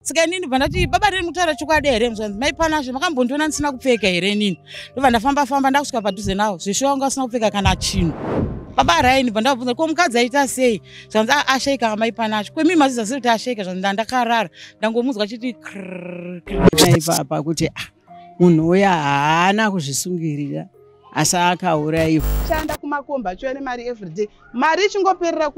saka inini bva ndati baba riri mutaura chokwadi here mzvanzi mai panazve makambondiona ndisina kupfeka here inini ndobva ndafamba famba ndakusvika padhuze nawo zveshuwa wanga usina kupfeka kana chinhu baba raini bva ndavabvunza ko mukadzi aita sei zvanzi ah, ashaika amai panazve kwemii maziza sei kuti ashaika zvanzi ndandakarara ndangomunzwa chiti krrrr. ipapa kuti ah, munhu uya haana kuzvisungirira asi akauraiwa shanda kumakomba achiuya nemari everyday mari ichingoperera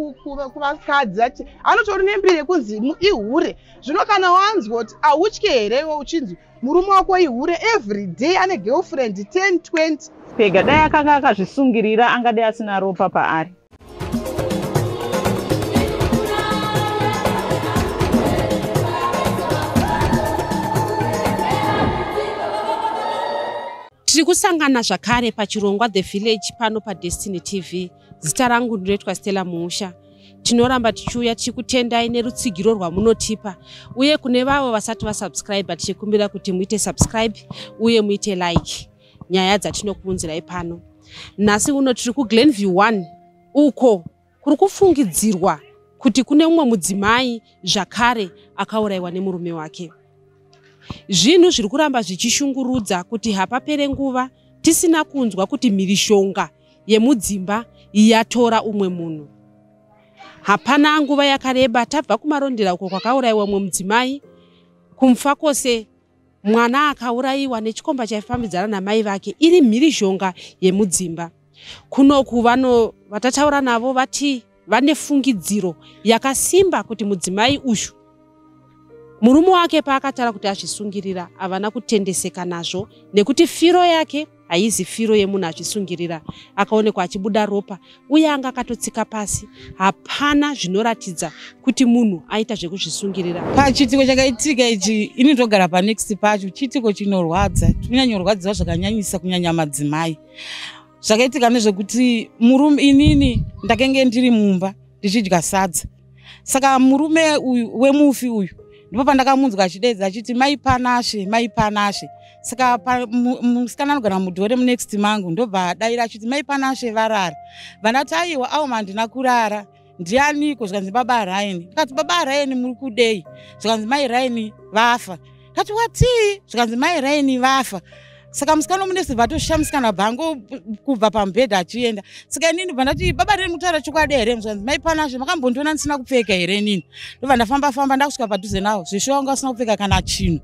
kuvakadzi ati anotori nembiri yekunzi ihure zvino kana wanzwa kuti autye here iwe uchinzi murume wako ihure everyday ane girlfriend 10 20 pega dai akanga akazvisungirira angadai asina ropa paari tiri kusangana zvakare pachirongwa the village pano padestiny tv zita rangu ndinoitwa stella muusha tinoramba tichiuya tichi kutendai nerutsigiro rwamunotipa uye kune vavo vasati vasubscribe tichikumbira kuti muite subscribe uye muite like nyaya dzatinokuunzirai pano nhasi uno tiri kuglenview 1 uko kuri kufungidzirwa kuti kune umwe mudzimai zvakare akaurayiwa nemurume wake zvinhu zviri kuramba zvichishungurudza kuti hapapere nguva tisina kunzwa kuti mhirishonga yemudzimba yatora umwe munhu hapana nguva yakareba tabva kumarondera uko kwakaurayiwa umwe mudzimai kumfa kwose Mwana akaurayiwa nechikomba chaifambidzana namai vake iri mhirizhonga yemudzimba. Kunoku vano vatataura navo vati vane fungidziro yakasimba kuti mudzimai uyu murume wake paakatara kuti azvisungirira havana kutendeseka nazvo nekuti firo yake haizi firo yemunhu achisungirira akaonekwa achibuda ropa uye anga akatotsika pasi hapana zvinoratidza kuti munhu aita zvekuzvisungirira pachiitiko chakaitika ichi ini ndogara panext pacho chiitiko chinorwadza tinonyanyorwadziwa zvakanyanyisa kunyanya madzimai zvakaitika nezvekuti murume inini ndakenge ndiri mumba ndichidya sadza saka murume uyu wemufi uyu ndipo pandakamunzwa achidedza achiti mai panashe mai panashe saka musikana anogara mudhore munext mangu ndobva daira achiti mai panashe varara vandati aiwa auma handina kurara ndianiko zvikanzi baba raini ndikati baba raini muri kudei zvikanzi mai raini vafa kati watii zvikanzi mai raini vafa saka musikana omunesi vatoshisha musikana bhango kubva pamubhedha achienda saka inini bva ndati baba reni kutaura chokwadi here zvikanzi mai panazve makambondiona ndisina kupfeka here inini ndobva ndafamba famba ndakusvika padhuze navo zveshuwa vanga vasina kupfeka kana chinhu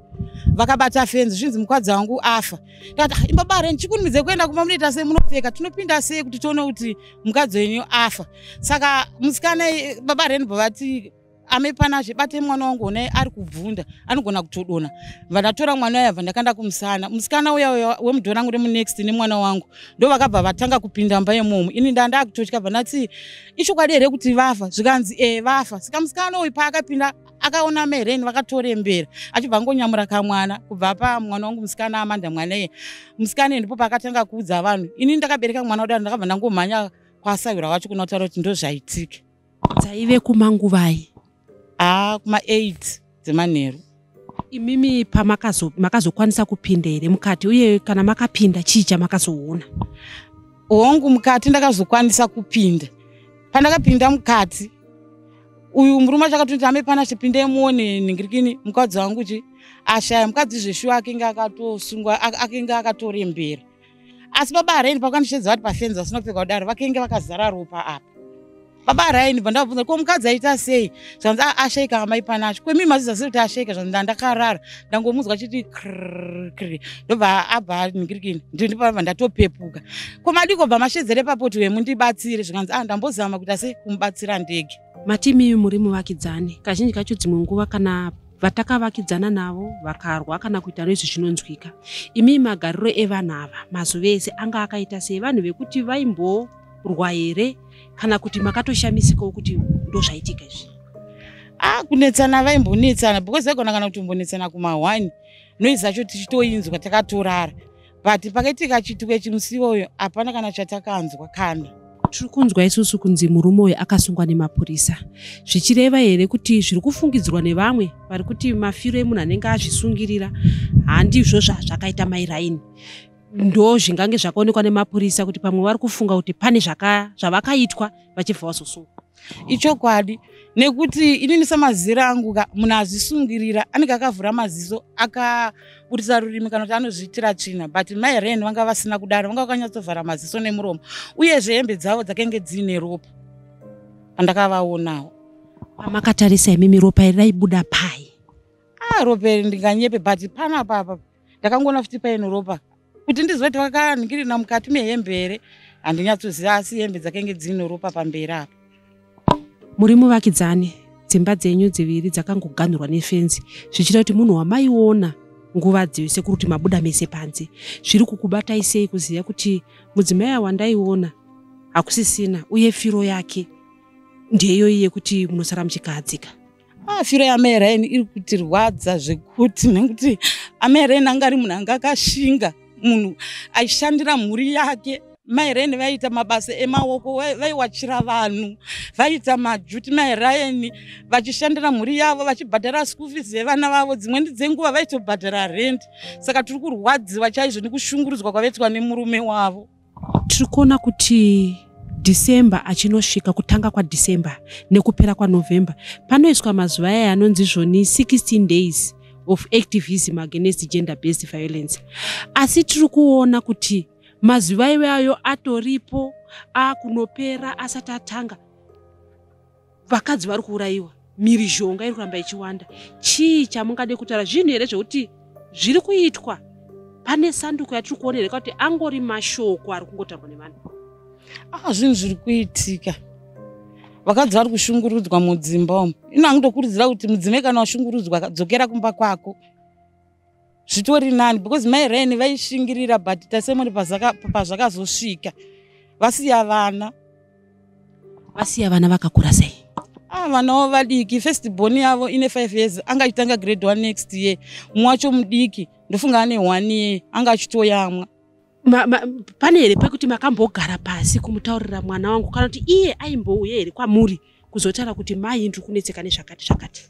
vakabata fenzi zvinzi mukwadzi wangu afa ndati ah, imbaba reni chikunimidze kuenda kumba munoita sei munopfeka tinopinda sei kuti tione kuti mukadzi wenyu afa saka musikana baba reni bva vati ame pana zvibate mwana wangu ona ari kubvunda anogona kutodona vanatora mwana uya vandakanda kumusana musikana uya uya wemudo rangu remunext nemwana wangu ndo vakabva vatanga kupinda mba yemumu ini ndanda kutotya vanati ichokwadi here kuti vafa zvikanzi e vafa saka musikana uyu paakapinda akaona meren vakatorembera achibva ngonyamura kamwana kubva pa mwana wangu musikana amanda mwana iye musikana ndipo paakatanga kuudza vanhu ini ndakabereka mwana udano ndakabva ndangomhanya kwasayura wacho kunotaura kuti ndozvaitike dzaive kumanguvai ah kuma 8 dzemanheru imimi pamakazokwanisa makazo kupinda here mukati uye kana makapinda chii chamakazoona hongu mukati ndakazokwanisa kupinda pandakapinda mukati uyu murume achakatoti ame pana chipinde muone nhingirikini mukadzi wangu chi ashaya mukadzi zveshuwa akinge akatosungwa akinge akatorembera asi baba araini pakandishedza vati pafenzi vasina kupfeka kudaro vakenge vakazara ropa apa baba araini bva ndavabvunza ko mukadzi aita sei zvanzi ah, ashaika amai panacho kwemii maziza sei kuti ashaika zvanzi ndandakarara ndangomunzwa chiti krkri ndobva abva ningirikini ndindipaava ndatopepuka ko madiko bva mashedzere papoti wemu ndibatsire zvikanzi ah ndambozama kuita sei kumubatsira ndege matimi muri muvakidzani kazhinji kacho dzimwe nguva kana vatakavakidzana navo vakarwa kana kuita noizvi zvinonzwika imi magariro evanhu ava mazuva ese anga akaita sei vanhu vekuti vaimborwa here kana kuti makatoshamisikawo kuti ndozvaitika izvi a ah, kunetsana vaimbonetsana because vaigona kana kuti mbonetsana kumahwani noizi acho tichitoinzwa takatorara but pakaitika chituko ichi musi iwoyo hapana kana chatakanzwa kana tiri kunzwa isusu kunzi murume uyu akasungwa nemapurisa zvichireva here kuti zviri kufungidzirwa nevamwe vari kuti mafiro emunhu anenge azvisungirira handizvo zvazvakaita mairaini ndo zvingange zvakaonekwa nemapurisa kuti pamwe vari kufunga kuti pane zvavakaitwa vachibva vazosungwa ichokwadi nekuti inini samazira angu ka munhu azvisungirira anenge akavhura maziso akaburitsa rurimi kana kuti anozviitira tsvina but mai ren vanga vasina kudaro vanga vakanyatsovhara maziso nemuromo uyezve hembe dzavo dzakenge dziine ropa pandakavaonawo amakatarisa imimi ropa iri raibuda pai ah ropa iri ndinganyepe but panapapa ndakangoona futi paine ropa kuti ndizoti wakaningirina mukati mehembe here handinyatsoziva asi hembe dzakenge dzino ropa pamberi apa muri muvakidzani dzimba dzenyu dziviri dzakangoganhurwa nefenzi zvichita kuti munhu wamaiona nguva dziyo sekuri kuti mabuda mese panze zviri kukubatai sei kuziva kuti mudzimai awandaiona hakusisina uye firo yake ndeyoyi yekuti munosara muchikahadzika ah, firo yaamai raini iri kutirwadza zvekuti nekuti amai raini anga ari munhu anga akashinga munhu aishandira mhuri yake mai reni vaiita mabasa emaoko vaiwachira vanhu vaiita majuti mai rayeni vachishandira mhuri yavo vachibhadhara school fees yevana vavo dzimweni dzenguva vaitobhadhara rendi saka tiri kurwadziwa chaizvo nekushungurudzwa kwavaitwa nemurume wavo tiri kuona kuti december achinosvika kutanga kwadecember nekupera kwanovember panoiswa mazuva aya anonzi zvoni 16 days of activism against gender based violence asi tiri kuona kuti mazuva iwayo atoripo akunopera asati atanga vakadzi vari kuurayiwa mhirizhonga iri kuramba ichiwanda chii chamungade kutaura zvinhu here zvekuti zviri kuitwa pane sanduko yatiri kuona here kuti angori mashoko ari kungotaurwa nevanhu a ah, zvinhu zviri kuitika vakadzi vari kushungurudzwa mudzimba umu ino angutokurudzira kuti mudzimai kana washungurudzwa dzokera kumba kwako zvitori nani because mai ryan vaishingirira but tasemoni pazvakazosvika vasiya vana vasiya vana vakakura sei ah vanawo vadiki first born yavo ine five years anga achitanga grade one next year mumwe wacho mudiki ndofunga ane one year anga achitoyamwa ma, ma, pane here pekuti makambogara pasi kumutaurira mwana wangu kana kuti iye aimbouye here kwamuri kuzotaura kuti mai ndiri kunetseka nezvakati zvakati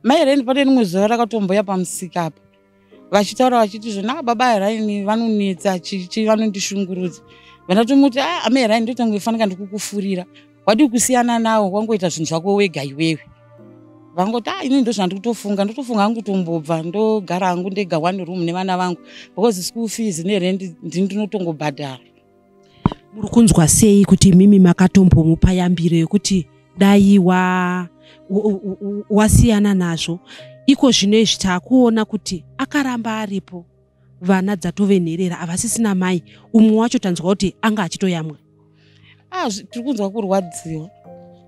mai reni pane rimwe zuva rakatomboya pamusika apa vachitaura vachiti zvona ah, baba heraini vanonetsa chichi vanondishungurudza vandatomuti a ah, amai heraini ndotangoifanika ndikukufurira wadi kusiyana nawo wangoita zvinhu zvako wega iwewe vangoti ah ini ndozvandi kutofunga ndotofunga hangu kutombobva ndogara hangu ndega one room nevana vangu because school fees nerendi ndini ndinotongobhadhara muri kunzwa sei kuti imimi makatombomupa yambiro yekuti dai wa wasiyana nazvo iko zvino izvi taakuona kuti akaramba aripo vana dzatove nherera havasisina mai umwe wacho tanzwa kuti anga achitoyamwa ah, tiri kunzwa kurwadziwa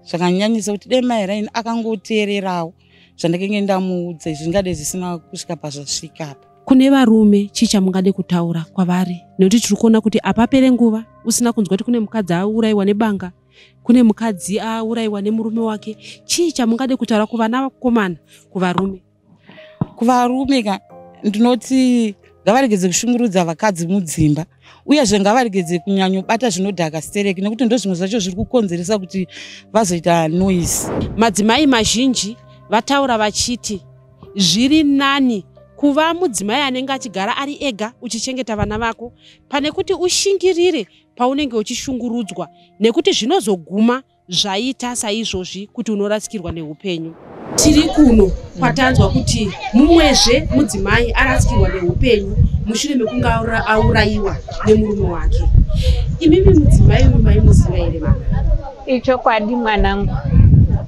zvakanyanyisa kuti dai mai raini akangoteererawo zvandakenge ndamuudza izvi zvingade zvisina kusvika pazvasvika apa kune varume chii chamungade kutaura kwavari nekuti tiri kuona kuti apapere nguva usina kunzwa kuti kune mukadzi aurayiwa nebanga kune mukadzi aurayiwa nemurume wake chii chamungade kutaura kuvana vakomana kuvarume kuvarume ka ndinoti ngavaregedze kushungurudza vakadzi mudzimba uyezve ngavaregedze kunyanyobata zvinodhaka stereki nekuti ndozvimwe zvacho zviri kukonzeresa kuti vazoita noise madzimai mazhinji vataura vachiti zviri nani kuva mudzimai anenge achigara ari ega uchichengeta vana vako pane kuti ushingirire paunenge uchishungurudzwa nekuti zvinozoguma Zvaita saizvozvi kuti unorasikirwa neupenyu. Tiri kuno kwatanzwa kuti mumwezve mudzimai arasikirwa neupenyu mushure mekunge aurayiwa nemurume wake. Imimi mudzimai uyu maimuziva here mama? Ichokwadi mwanangu,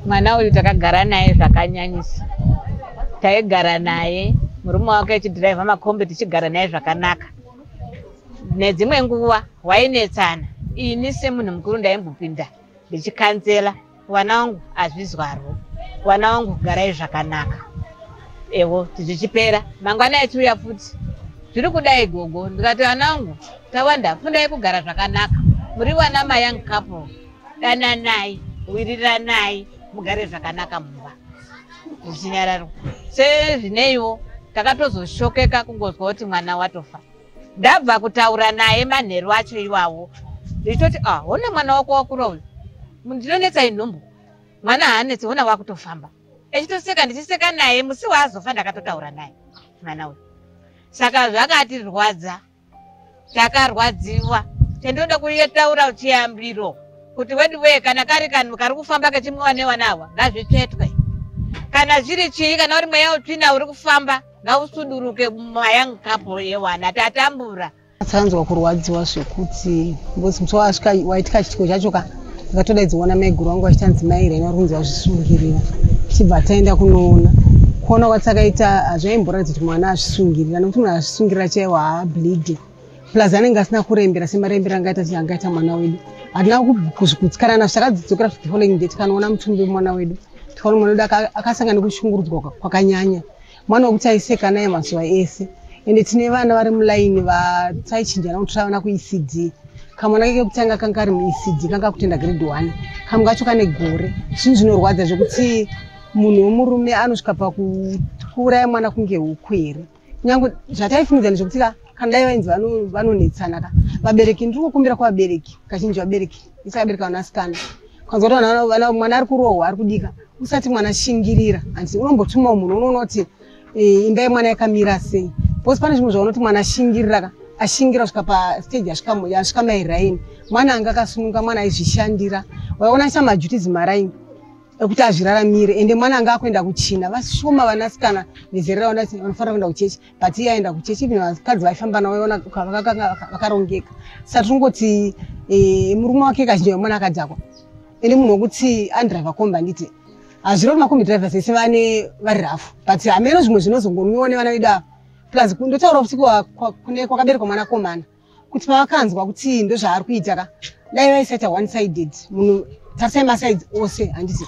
mwana uyu takagara naye zvakanyanyisa. Taigara naye murume wake achidhiraivha makombi tichigara naye zvakanaka nedzimwe nguva wainetsana ini semunhu mukuru ndaimbopinda ndichikanzela vana wangu azvizwarwo vana wangu garai zvakanaka ewo zvichipera mangwana achiuya futi zviri kudai gogo ndikati vana wangu tawanda fundai kugara zvakanaka muri vana mayoung couple dananai wiriranai mugare zvakanaka mumba zvichinyararwa sezvineiwo takatozoshokeka kungonzwa kuti mwana watofa ndabva kutaura naye manheru acho iwawo ndichitoti ah hona mwana wako wakura uyu ndinonetsa inhumbu mwana haanetsi hona wakutofamba echitoseka ndichiseka naye musi waazofa ndakatotaura naye mwana uyu saka zvakatirwadza takarwadziwa tendoda kuyetaura chiyambiro kuti wedu wee kana kari kanhu kari kufamba kechimwiwa nevanawa ngazvitsvetwe kana zviri chii kana uri mweya utsvina uri kufamba ngausuduruke mayoung couple yewana tatambura atsanzwa kurwadziwa zvekuti because musi waasvika waitika chitiko chacho ka ndakatodaidziona maiguru wangu vachitanzi mai reno ari kunzi azvisungirira tichibva taenda kunoona kuona kwati akaita hazvaimboratidza kuti mwana azvisungirira nekuti munhu azvisungirira chaiwo haableedi plus anenge asina kurembera semarembera angaita ti angaita mwana wedu hatina kuzvikutsikana nazvo takadzidzokera futi following day tikanoona mutumbi wemwana wedu tikaona mwana wedu akasanga nekushungurudzwa kwakanyanya mwana wekuti aiseka naye mazuva ese ende tine vana vari mulaini vataichinjana kuti tavana kuecd kamwana keke kutanga kanga kari muecd kanga kutenda grade one kamwe kacho kane gore zvinhu zvinorwadza zvekuti munhu wemurume anosvika pakuuraya mwana kunge huku here nyange zvataifungidzani zvekuti ka kana dai vainzi vanonetsana ka vabereki ndiri kukumbira kuvabereki kazhinji vabereki isakabereka vanasikana kwanza kuti mwana ari kurohwa ari kudika usati mwana shingirira hanzi unombotumawo munhu unoona kuti eh, imba yemwana yakamira sei bcause pane zvimwe zvaunoti mwana ashingirira ka ashingira kusvika pastage asvika mairaini mwana anga akasununga mwana aizvishandira waiona aita majutizi maraini ekuti azviraramire ende mwana anga akuenda kuchina vashoma vanasikana vezera raona kuti vanofanira kuenda kuchechi but iye aenda kuchechi even vakadzi vaifamba navo vaiona vakarongeka saka tinongoti eh, murume wake kazhinji vemwana akadhakwa ini munhu wekuti andriver kombi anditi hazvirova makombi drivers vese vane vari rafu but hameno zvimwe zvinozongomiwa nevana vedu ava plus ndotaura kuti kune kwakaberekwa mwana komana kuti pavakanzwa kuti ndozvaari kuita ka dai vaisaita one sided munhu tarisai masides ose handiti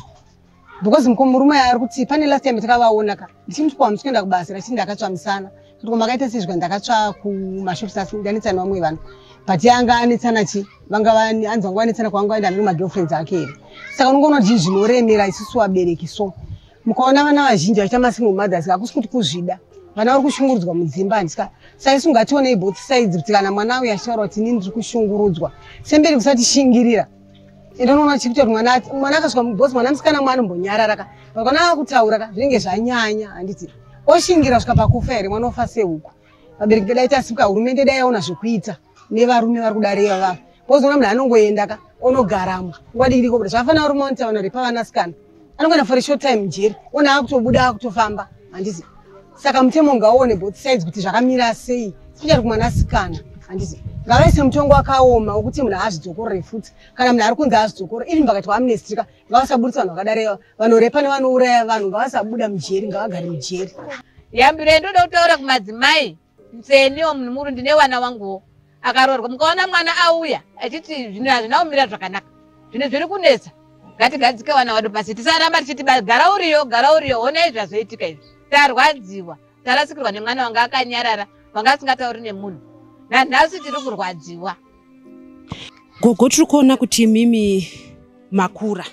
because mko murume aya ari kuti pane last time takavaona ka ndichimuti ko hamusi kuenda kubasa here achiti ndakatsvamisana kuti ko makaita sei zvika ndakatsva kumashops asi ndanetsana vamwe vanhu but ye anga anetsana chi vanga anzi vanga vanetsana kwanga vaenda nero magirlfriends ake here saka unongoona kuti zvinoremera isusu vabereki so mukaona vana vazhinji vachiita masingle mothers hakusi kuti kuzvida vana vari kushungurudzwa mudzimba handika saisu ngationei both sides kuti kana mwana uyu achitaura kuti ini ndiri kushungurudzwa semberi kusatishingirira ende unoona chiri kuti mwana mwana akasvika mubosi mwana musikana mwana anombonyarara ka vakana akutaura ka zvinenge zvanyanya handiti oshingira svika pakufa here mwana ofa sehuku vabereki vedai tasimuka hurumende dai yaona zvekuita nevarume vari kudare ivavava wozoona munhu anongoenda ka onogaramo nguva dikidiko kuti zvafanira uri montaona repavanasikana anongoenda for a short time mujeri ona akutobuda akutofamba handizi saka mutemo ngaone both sides kuti zvakamira sei specially kumwanasikana handizi ngavaise mutongo wakaoma wekuti munhu haazvidzokorore futi kana munhu ari kunzi haazvidzokore even pakati kwaamnestrika ngavasaburitsa vanhu vakadaro vanorepa nevanouraya vanhu ngavasabuda mujeri ngavagare mujeri yambiro yendoda kutaura kumadzimai Nseniwo mnumuru ndine wana wanguwo akaroorwa mukaona mwana auya achiti zvinhu hazvina kumira zvakanaka zvinhu zviri kunetsa ngatigadzike wana wadu pasi tisaramba tichiti gara uriyo gara uriyo honai zvazoitika izvi tarwadziwa tarasikirwa nemwana wanga akanyarara wanga asingatauri nemunhu nanhasi tiri kurwadziwa gogo tiri kuona kuti mimi makura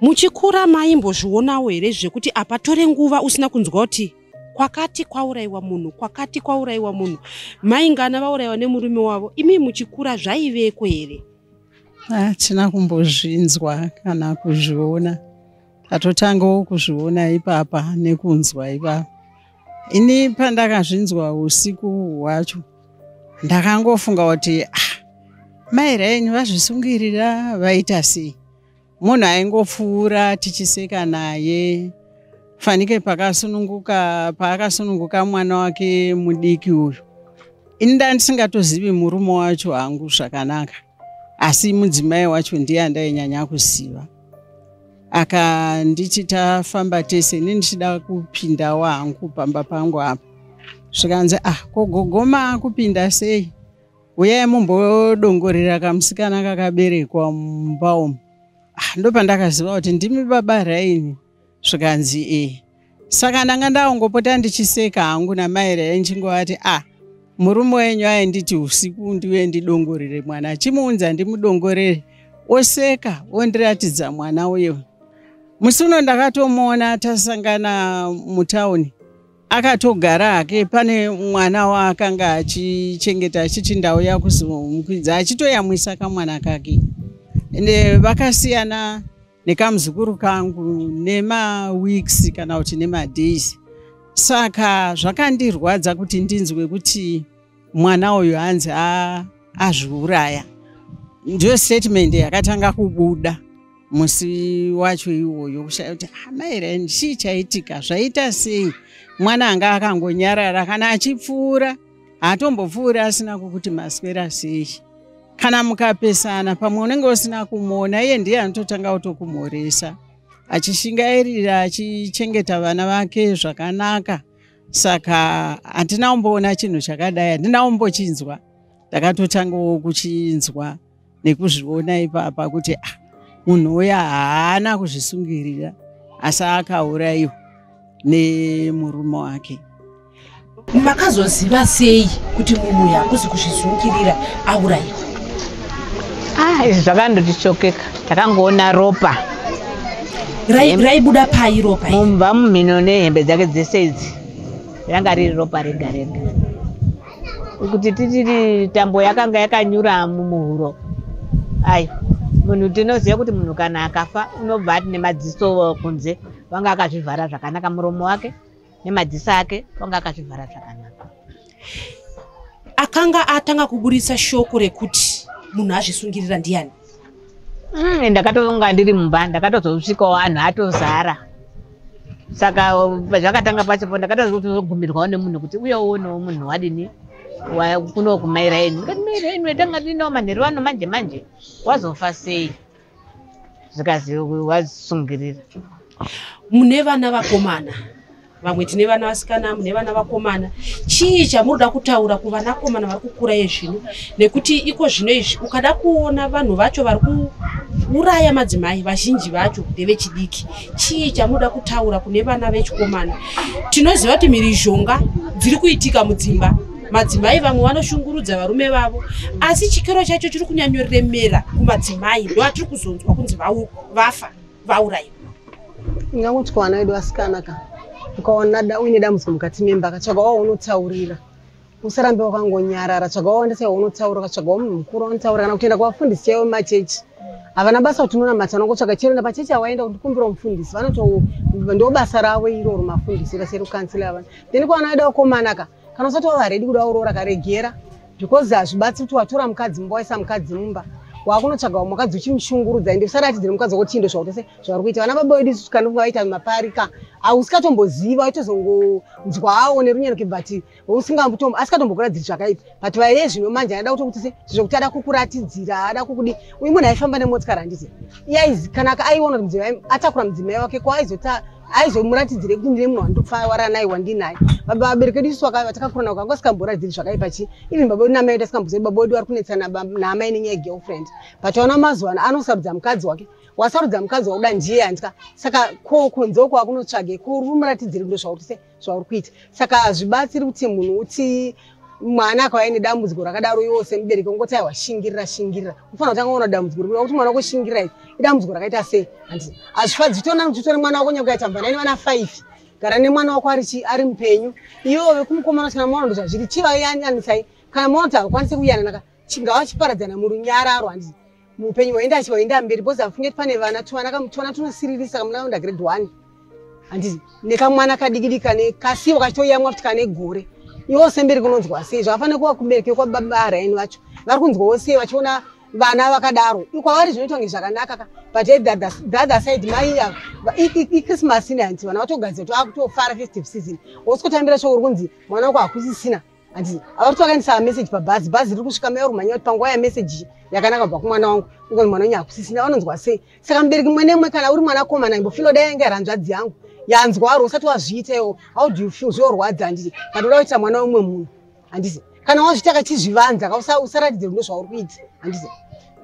muchikura maimbozvionawo here zvekuti apa tore nguva usina kunzwa kuti kwakati kwauraiwa munhu kwakati kwauraiwa munhu maingana vauraiwa nemurume wavo imi muchikura zvaiveko here hatina ah, kumbozvinzwa kana kuzviona tatotangawo kuzviona ipapa nekunzwa ipapa ini pandakazvinzwa usiku hwacho ndakangofunga kuti ah, mai raini vazvisungirira vaita sei munhu aingopfuura tichiseka naye fanike pakasununguka paakasununguka mwana wake mudiki uyu ini ndandisingatozivi murume wacho hangu zvakanaka asi mudzimai wacho ndiye andainyanya kuziva akanditi tafamba tese ini ndichida kupindawo hangu pamba pangu apa zvikanzi ah kogogoma kupinda sei uyai mumbodongorera kamusikana kakaberekwa mumba umu ah, ndopandakaziva kuti ndimi baba raini zvikanzi e saka ndanga ndaongopota ndichiseka hangu namai raini chingovati a ah, murume wenyu ainditi usiku ndiuye ndidongorere mwana chimuunza ndimudongorere oseka ondiratidza mwana uyo musi uno ndakatomuona tasangana mutauni akatogara hake pane mwana waakanga achichengeta achiti ndauya kuzomukwidza achitoyamwisa kamwana kake ende vakasiyana nekamuzukuru kangu nemaweeks kana kuti nemadays saka zvakandirwadza kuti ndinzwe kuti mwana uyu hanzi azviuraya ndiyo statement yakatanga kubuda musi wacho iwoyo kushaya kuti amaira ah, chii chaitika zvaita sei mwana anga akangonyarara kana achipfuura haatombopfuuri asina kukuti maswera sei kana mukapesana pamwe unenge usina kumuona iye ndiye anototanga kutokumhoresa achishingairira achichengeta vana vake zvakanaka saka handina kumboona chinhu chakadai handina kumbochinzwa ndakatotangawo kuchinzwa nekuzviona ipapa kuti ah, munhu uya haana kuzvisungirira asi akaurayiwa nemurume wake makazoziva sei kuti munhu uya akuzi kuzvisungirira aurayiwa ah izvi zvakandotichokeka takangoona ropa raibuda pai ropa mumba mumhino nehembe dzake dzese idzi ranga riri ropa rega rega kuti titiri tambo yakanga yakanyura mumuhuro ai munhu tinoziva kuti munhu kana akafa unobva ati nemadziso kunze vanga akazvivhara zvakanaka muromo wake nemadziso ake kwanga akazvivhara zvakanaka akanga atanga kuburitsa shoko rekuti munhu azvisungirira ndiyani mm, ndakatonga ndiri mumba ndakatozosvikawo anhu atozara saka zvakatanga pacho po ndakatozogumirwawo nemunhu kuti uye uonewo munhu wadini kuno kumairaini kumairaini wetanga ndinawo manheru ano manje manje wazofa sei zvikazi wazvisungirira mune vana vakomana vamwe tine vana vasikana mune vana vakomana chii chamunoda kutaura kuvanakomana vari kukura yezvino nekuti iko zvino izvi ukada kuona vanhu vacho vari kuuraya madzimai vazhinji vacho ndevechidiki chii chamunoda kutaura kune vana vechikomana tinoziva kuti mhirizhonga dziri kuitika mudzimba madzimai vamwe vanoshungurudza varume vavo asi chikero chacho chiri kunyanyoremera kumadzimai ndo atiri kuzonzwa kunzi vafa vauraiwa ingangonzwa vana vedu vasikana ka ukaona uine dambudziko mukati memba katsvaga wao unotaurira usarambe wakangonyarara tsvaga wawandisa iwe unotaura ukatsvaga wamunhu mukuru wanotaura kana kutoenda kuvafundisi chaivo machechi havana basa kuti unonamata unongotsvaga chero enda pachechi awaenda kuti kumbira mufundisi vanoto ndo basa ravo iroro mafundisi kaseri ukansila avana then kwana aida ukomanaka kana usati wava redi kuda uroora karegera because hazvibatsi kuti watora mukadzi mumba waisa mukadzi mumba wakunotsvaga vamwe vakadzi uchimushungurudza ende usaratidzire mukadzi wako chindo zvautese zvauri kuita vana baba vedu isusu kana vaita maparika ausikatomboziva waitozongonzwawo nerunyeroke but asikatombokuradziri zvakaipa but vaye zvino manje aida kuto kutise zvokuti ada kukuratidzira ada kukudi uyu munhu aifamba nemotikari handiti kana aiona kuti mudzimai atakura mudzimai wake ko aizota aizomuratidzire kuti ndine munhu wandopfawara naye wandinaye baba vabereki vedu isu vatakakura navo kanga sikamboratidziri zvakaipa chii even baba vedu namai vedu asikambozei baba vedu vari kunetsana naamai nenyaya yegirlfriend but aona mazuva ano anosarudza mukadzi wake wasarudza mukadzi wakuda ndiye handika saka ko kunzoko akunotsvage ko uri muratidziri ndo zvauri sei zvauri kuita saka hazvibatsiri kuti munhu uti mwana akauya nedambudziko rakadaro iwo semubereki ungoti aiwa shingirira shingirira unofanira kutanga kuona dambudziko rikuda kuti mwana wako shingirira iri idambudziko rakaita sei handi hazvifadzi zvitona kuti utore mwana wako nyakuita mvana ine vana five gara nemwana wako ari chi ari mupenyu iwo vekumukomana kana mwana ndozvazviri chivai yani anisai kana mwana kuti hakwanise kuyananaka chingava chiparadzana murunyararo handi muupenyu hwaenda chivaenda mberi bcause hafunge ti pane vana tuvana kamutwana tunosiririsa kamuna kaunda grade one handi nekamwana kadikidi kane kasiwo kachitoyamwa kuti kane gore iwo semberi kunonzwa sei zvakafanira kuva kubereke kwababa araini vacho vari kunzwawo sei vachiona vana vakadaro kwavari zvinoitwa nge zvakanaka ka but the other side mai ichristmas ine hanti vana vatogadzira kuti vakutofara festive season wosiko tambira shoko uri kunzi mwana wako hakusisina hanzi ava kuti vakaendesa message pabhazi bhazi riri kusvika mai orumhanya kuti panguva yamessage yakanaka kubva kumwana wangu ungoni mwana wenyu hakusisina vanonzwa sei saka mubereki mumwe nemwe kana uri mwana komana imbofilo dai yange ranzvadzi yangu yanzwa waro usati wazviita iwo how do you feel zviorwadza handiti but uda kuitira mwana weumwe munhu handiti kana wazviita kachizvivanza ka usaratidze rudo zvauri kuita handiti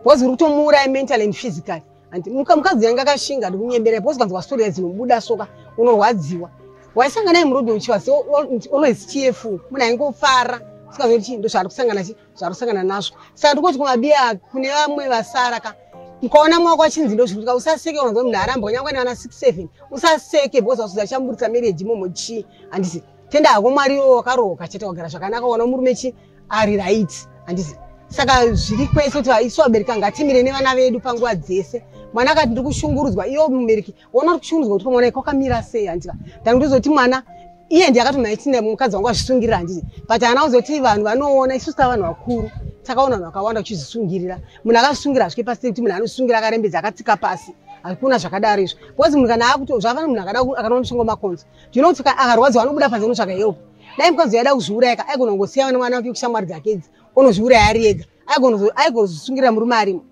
because uri kutomuuraya mentally and physically Andi muka mukadzi yanga akashinga ndikunyebera because kanzwa story dzinobuda soka unorwadziwa. Waisanga naye murudo uchiwa so always cheerful. Muna ingofara. Sikazo kuti ndo zvaro kusangana chi zvaro kusangana nazvo. Saka ndikoti kuma biya kune vamwe vasara ka. Mkaona mwako achinzi ndo zvikutika usaseke unonzwa munhu aramba nyangwe naana 67 usaseke because wasuza chamburitsa marriage momo chi andisi tenda hako mwari yo wakaroka chete wagara zvakanaka wana murume chi ari right handizi saka zviri kwese kuti isu vabereki ngatimire nevana vedu panguva dzese mwana akati ndiri kushungurudzwa iyo mubereki wona uri kushungurudzwa kuti kwamwana iko kamira sei handika ndanga ndozoti mwana iye ndiye akati maitina mukadzi wangu azvisungirira handiti but ana uzoti vanhu vanoona isusu ta vanhu vakuru takaona vanhu vakawanda kuchizvisungirira munhu akazvisungira hazvike pasi kuti munhu anosungira akarembedza akatsika pasi hakuna zvakadaro izvo bcause munhu kana akuti zvafana munhu akada akanwa mushongo makonzo Do you know kuti akarwadziwa anobuda panze kunotsvaga help. Dai mukadzi aida kuzviuraya ka aigona kungosiya vana vana vake kushamwari dzake idzi onozviuraya ari ega aigozosungirira murume arimo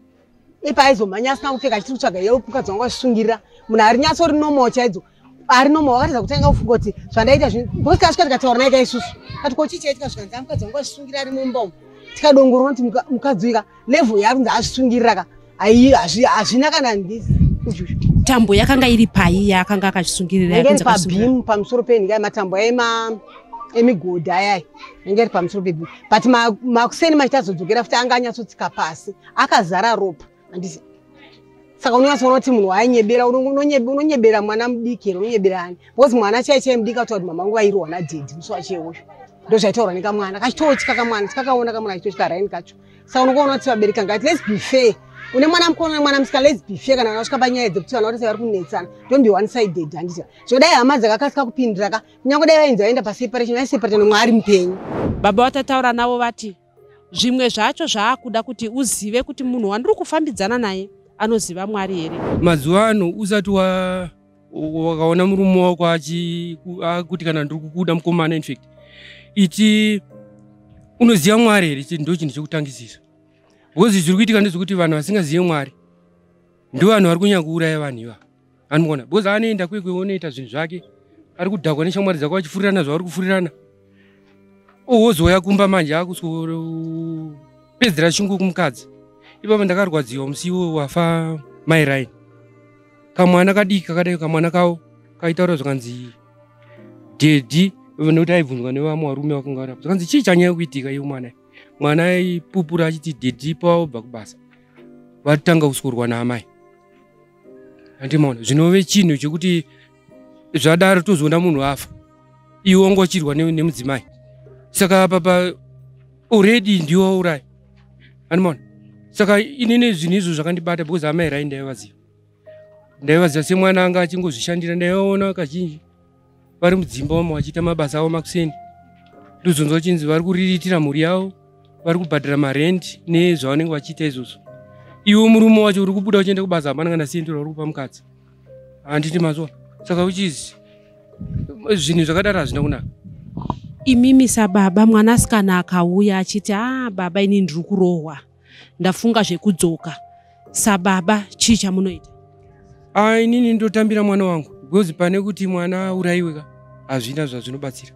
ipa aizomhanya asina kupfeka achiti kutsvaga help mukadzi wangu achisungirira munhu ari nyatso ri normal chaidzo ari normal wakatadza kutanga kufunga kuti zvandaita zvinhu because kasvika tikataura naye ka isusu kati ko chii chaitika zvikanzi amukadzi wangu achisungirira ari mumba umu tikadongorona kuti mukadzi uika level yakunzi azvisungirira ka ayi hazvina kana ndizi tambo yakanga iri pai yaakanga akazvisungirira iri pabim pamusoro penhika yematambo aema emigodhi ayai inge iri pamusoro pebim but makuseni ma machitazodzokera futi anga anyatsotsika pasi akazara ropa andisi saka unonyatsoona kuti munhu waayinyebera unonyebera mwana mudiki here unonyebera ani because mwana chai chai mudiki atoa kuti mama nguva iriwana dhedhi musi wacheoyo ndozvaitaurwa nekamwana kachitotya kamwana tikakaona kamwana kachitotya raini kacho saka unokuona kuti vabereki anga ati let's be fair une mwana mukona mwana musika let's be fair kana vakasvika panyaya dzekuti vana vatese vari kunetsana don't be one sided handiti zvino dai hama dzakakasika kupindira ka kunyange dai vainzi vaenda paseparation vaiseparate nomwe ari mupenyu baba watataura navo vati zvimwe zvacho zvaakuda kuti uzive kuti munhu wandiri kufambidzana naye anoziva mwari here mazuva ano usati wa wakaona murume wako akuti kana ndiri kukuda mukomana infact iti unoziva mwari here chii ndo chinhu chekutangisisa because zviri kuitika ndezvekuti vanhu vasingazive mwari ndo vanhu vari kunyanya kuuraya vanhu ivavo anogona because anoenda kwekwe onoita zvinhu zvake ari kudhakwa neshamwari dzako vachifurirana zvavari kufurirana Ozoya kumba manje akusoro pedzera chungu kumukadzi. Ipapo ndakarwadziwa musiwo wafa mai Ryan. Kamwana kadiki kakadai kamwana kawo kaitaura zvakanzi daddy nekuti aibvunzwa nevamwe varume vakungara zvakanzi chii chanyaya kuitika iye mwana mwana aipupura achiti daddy paobva kubasa vatanga kusorwa naamai andimona zvinove chinhu chekuti zvadaro tozoona munhu afa iwe wanga uchirwa nemudzimai saka papa already ndiwe wauraya andimona saka inini zvinhu izvo zvakandibata because amai rai ndaivaziva ndaivaziva semwana anga achingozvishandira ndaivaona kazhinji vari mudzimba wamo vachiita mabasa avo makuseni ndozonzwa chinzi vari kuriritira mhuri yavo vari kubhadhara marendi nezvavanenge vachiita izvozvo iwe murume wacho uri kubuda uchienda kubasa hapana kana siyendera uri kupa mukadzi handiti mazuva saka uchizi zvinhu zvakadaro hazvina kunaka imimi sababa mwanasikana akauya achiti a ah, baba ini ndiri kurohwa ndafunga zvekudzoka sababa chii chamunoita a inini ndotambira mwana wangu because pane kuti mwana aurayiwe ka hazvina zvazvinobatsira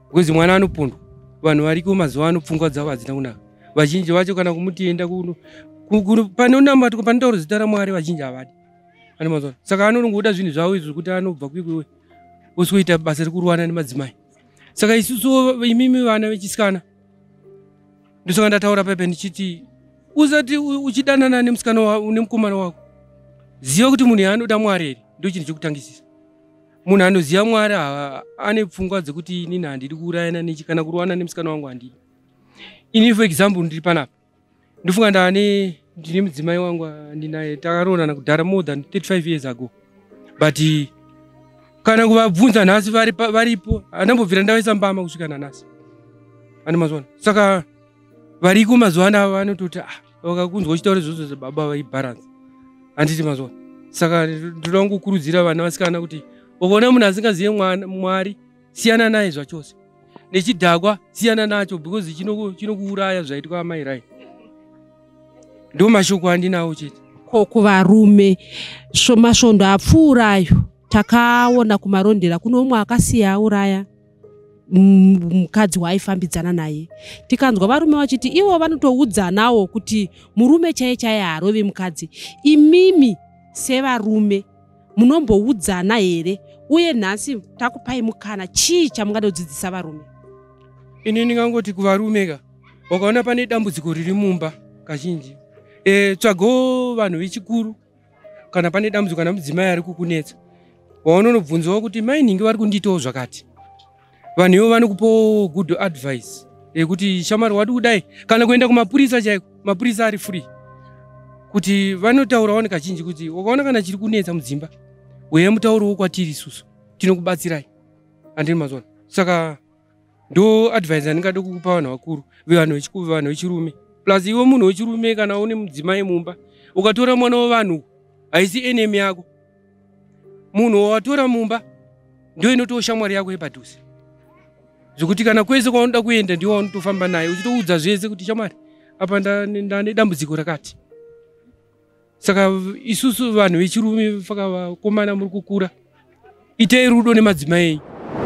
because mwana anopondwa vanhu variko mazuva ano pfungwa dzavo hadzina kunaka vazhinji vacho kana kumuti enda kuno pane unamatwa pane tauro zita ramwari vazhinji havadi pane mazuva saka anonongoda zvinhu zvavo izvo zvekuti anobva kuikwewe osi kuita basa rekurwana nemadzimai saka isusu imimi vana vechisikana ndisonga ndataura pepe ndichiti usati uchidanana nemusikana nemukomana wako ziva kuti munhu yaanoda mwari here ndo chinhu chekutangisisa munhu anoziva mwari ane pfungwa dzekuti inini handidi kuurayana nechi kana kurowana nemusikana wangu handidi ini for example ndiri panapa ndofunga ndane ndine mudzimai wangu andinaye takaroorana kudhara more than 35 years ago but kana kuvabvunza nhasi varipo andambobvira ndavaisa mbama kusvika nanhasi ane mazuva ano saka variko mazuva ano ava vanototi ah, vakakunzwa uchitaura izvozvo zvababa vaibaransa handiti mazuva saka ndoda kungokurudzira vana vasikana kuti ukaona munhu asingazive mwari siyana naye zvachose nechidhakwa siyana nacho because chinokuuraya chino zvaitwa amai rai ndo mashoko andinawo chete ko kuvarume masvondo apfuura ayo takaona kumarondera kuno umwe akasiya auraya mukadzi waaifambidzana naye tikanzwa varume vachiti ivo vanotoudzanawo kuti murume chaiye chaiye haarovi mukadzi imimi sevarume munomboudzana here uye nhasi takupai mukana chii chamungada kudzidzisa varume ini ndingangoti kuvarume ka wakaona pane dambudziko riri mumba kazhinji e, tsvagawo vanhu vechikuru kana pane dambudziko kana mudzimai ari kukunetsa waunonobvunzawo kuti mainhingi vari kundiitawo zvakati vanhu ivo vanokupa good advice yekuti shamari wadi kudai kana kuenda kumapurisa chaiko mapurisa ari free kuti vanotaurawo nekazhinji kuti wakaona kana chiri kunetsa mudzimba uye mutauro wokwatiri isusu tinokubatsirai andini mazona saka ndo advise andingade kukupa vanhu vakuru vevanhu vechikuvi vanhu vechirume plus iwe munhu wechirume kana une mudzimai mumba ukatora mwana wevanhu haisi enemy yako munhu wawatora mumba ndo inotiwo shamwari yako yepadhuze zvekuti kana kwese kwaunoda kuenda ndiwo waunotofamba naye uchitoudza zvese kuti shamwari apa ndane dambudziko rakati saka isusu vanhu vechirume faka vakomana muri kukura itei rudo nemadzimai enyu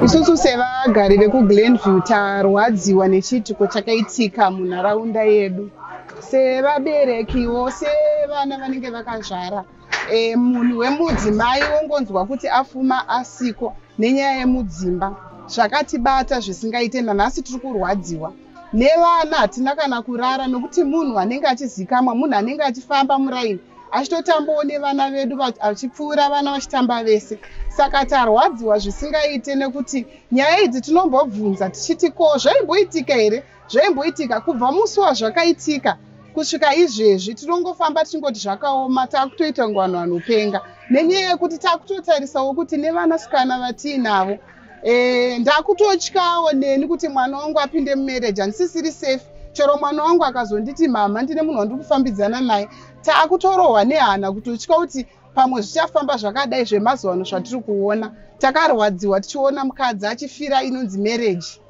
isusu sevagari vekuglenview tarwadziwa nechiitiko chakaitika munharaunda yedu sevaberekiwo sevana vanenge vakazvara e, munhu wemudzimai wongonzwa kuti afuma asiko nenyaya yemudzimba zvakatibata zvisingaite nanhasi tiri kurwadziwa nevana hatina kana kurara nokuti munhu anenge achizikamwa munhu anenge achifamba muraini achitotambawo nevana vedu achipfuura vana vachitamba vese saka tarwadziwa zvisingaite nekuti nyaya idzi tinombobvunza tichiti ko zvaimboitika here Zvaimboitika kubva musi wazvakaitika kusvika izvezvi tinongofamba tichingoti zvakaoma taakutoita kunge vanhu vanopenga nenyaya yekuti taakutotarisawo kuti nevanasikana vatiinavo Eh, ndakutotyawo neni kuti mwana wangu apinde mumarriage handisisiri safe chero mwana wangu akazonditi mama ndine munhu wandiri kufambidzana naye taakutorohwa nehana kutotya kuti pamwe zvichafamba zvakadai zvemazuva ano zvatiri kuona takarwadziwa tichiona mukadzi achifira inonzi mereji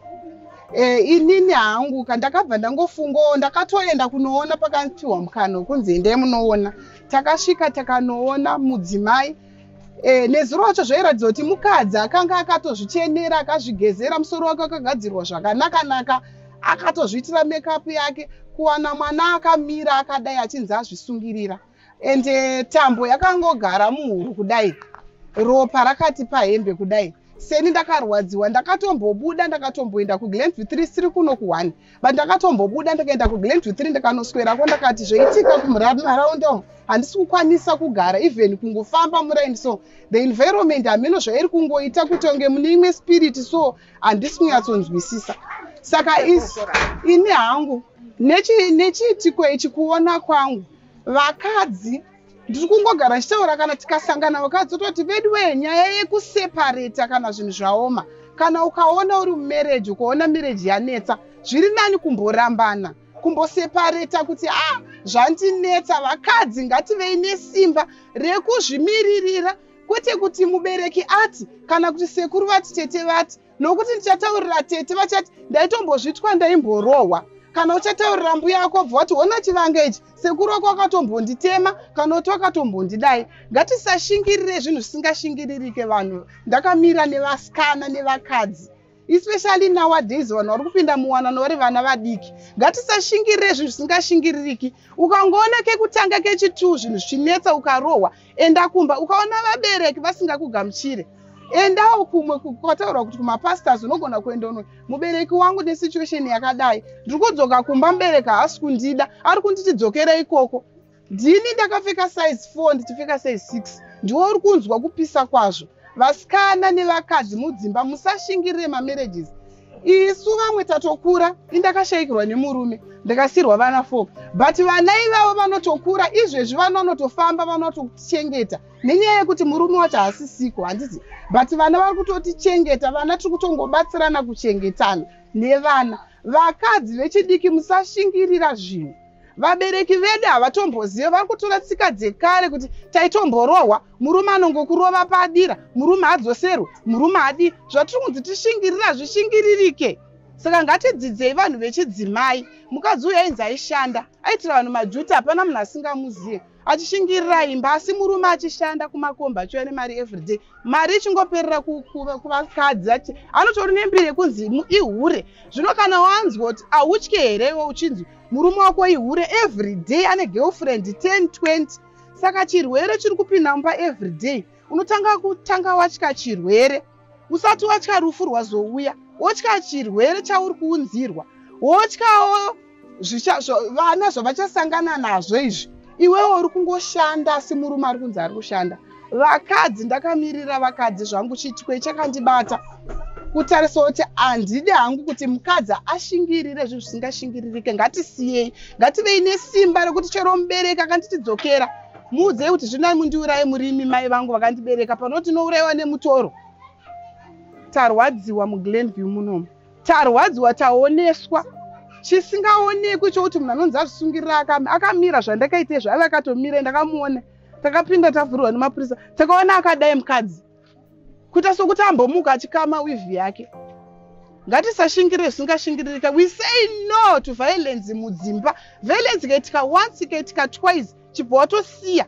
e, eh, inini hangu kandakabva ndangofungawo ndakatoenda kunoona pakanpiwa mukano kunzi endai munoona takasvika takanoona mudzimai E, nezuro racho zvairatidza kuti mukadzi akanga akatozvichenera akazvigezera musoro wake wakagadzirwa zvakanakanaka akatozviitira mekapu yake kuwana mwana akamira akadai achinzi azvisungirira and eh, tambo yakangogara muhuro kudai ropa rakati pahembe kudai seni ndakarwadziwa ndakatombobuda ndakatomboenda kuglenview three siri kuno kuone but ndakatombobuda ndakaenda kuglenview three ndakanoswerako ndakati zvoitika kumaraunda umu handisi kukwanisa kugara even kungofamba muraini so the environment hameno zvairi kungoita kuti onge mune imwe spirit so handisi kunyatsonzwisisa saka ini hangu nechiitiko ichi kuona kwangu Vakadzi ndiri kungogara ndichitaura kana tikasangana vakadzi ototi veduwee nyaya yekusepareta kana zvinhu zvaoma kana ukaona uri mumereji ukaona mireji yanetsa zviri nani kumborambana kumbosepareta kuti a ah, zvandinetsa vakadzi ngativei nesimba rekuzvimiririra kwete kuti mubereki ati kana kuti sekuru vati tete vati nokuti ndichataurira tete vachati ndaitombozvitwa ndaimborohwa kana uchataurira mbuya yako bva wati hona chivanga ichi sekuru wako wakatombonditema kana kuti wakatombondidai ngatisashingirire zvinhu zvisingashingiririke vanhu ndakamira nevasikana nevakadzi especially nowadays vanhu vari kupinda muwanano vari vana vadiki ngatisashingirire zvinhu zvisingashingiririki ukangoona kekutanga kechituu zvinhu zvichinetsa ukarohwa enda kumba ukaona vabereki vasingakugamuchire endawo kumwe kwataurwa kuti kumapastors unogona kuenda uno mubereki wangu nesituation yakadai ndiri kudzoka kumba mubereki haasi kundida ari kunditi dzokera ikoko ndini ndakapfeka size four ndichipfeka size six ndiwo uri kunzwa kupisa kwazvo vasikana nevakadzi mudzimba musashingirire mamarriages isu vamwe tatokura indakashayikirwa nemurume ndakasirwa vana four but vana ivavo vanotokura izvezvi vana vanotofamba vanotochengeta nenyaya yekuti murume wacho haasisiko handizi but vana vari kutotichengeta vana tiri kutongobatsirana kuchengetana nevana vakadzi vechidiki musashingirira zvinhu vabereki vedu havatombozive vari kutora tsika dzekare kuti taitomborohwa murume anongokurova padira murume adzoserwe murume adi zvatiri kunzi tishingirira hazvishingiririke saka ngatidzidzei vanhu vechidzimai mukadzi uyu ainzi aishanda aitira vanhu majuti hapana munhu asingamuzive achishingirira imba asi murume achishanda kumakomba achiuya nemari everyday mari ichingoperera kuvakadzi ati anotori nembiri yekunzi ihure zvino kana wanzwa kuti ahutye here iwe uchinzi murume wako ihure everyday ane girlfriend 10 20 saka chirwere chiri kupinda mumba everyday unotanga kutanga watya chirwere usati watya rufu rwazouya wotya chirwere chauri kuunzirwa wotyawo vana zvavachasangana nazvo izvi iwewo uri kungoshanda asi murume ari kunzi ari kushanda vakadzi ndakamirira vakadzi zvangu chitwe chakandibata kutarisa kuti handidi hangu kuti mukadzi ashingirire zvinhu zvisingashingiririke ngatisiyei ngativei nesimba rekuti chero mubereki akanditidzokera muudzei kuti zvinai mundiuraye murimi mai vangu vakandibereka panoti nourayiwa nemutoro tarwadziwa muglenview munomu tarwadziwa taoneswa chisingaonekwi chokuti munhu anonzi azvisungirira akame akamira zvandakaitei zvaive akatomira ndakamuona takapinda tavhurirwa nemapurisa takaona akadai mukadzi kuita sokuti ambomuka achikama wivhi yake ngatisashingire zvisingashingirika we say no to violence mudzimba violence ikaitika once ikaitika twice chibva watosiya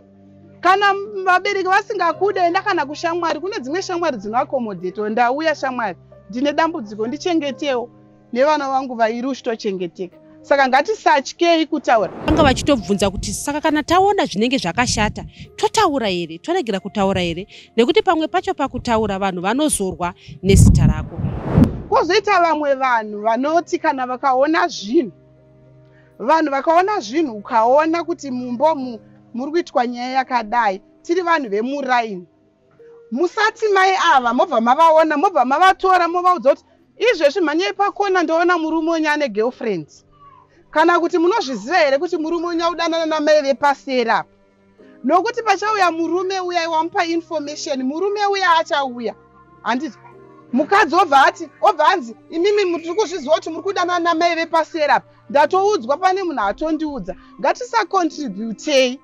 kana vabereki vasingakude enda kana kushamwari kune dzimwe shamwari dzinoakomodheto ndauya shamwari ndine dambudziko ndichengetewo nevana vangu vairi uchitochengeteka saka ngatisatyei kutaura vanga vachitobvunza kuti saka kana taona zvinenge zvakashata totaura here toregera kutaura here nekuti pamwe pacho pakutaura vanhu vanozorwa nezita rako kwozoita vamwe vanhu vanoti kana vakaona zvinhu vanhu vakaona zvinhu ukaona kuti mumbomu muri kuitwa nyaya yakadai tiri vanhu vemuraini musati mai ava mobva mavaona mobva mavatora movaudza kuti izvezvi mhanyai pakona ndoona murume wenyu ane girlfriend kana kuti munozviziva here kuti murume wenyu audanana namai vepaseri apa nokuti pachauya murume uya wamupa information murume uya achauya handiti mukadzi obva ati obva anzi imimi mutiri kuzviziva kuti muri kudanana namai vepaseri apa ndatoudzwa pane munhu atondiudza ngatisakontributei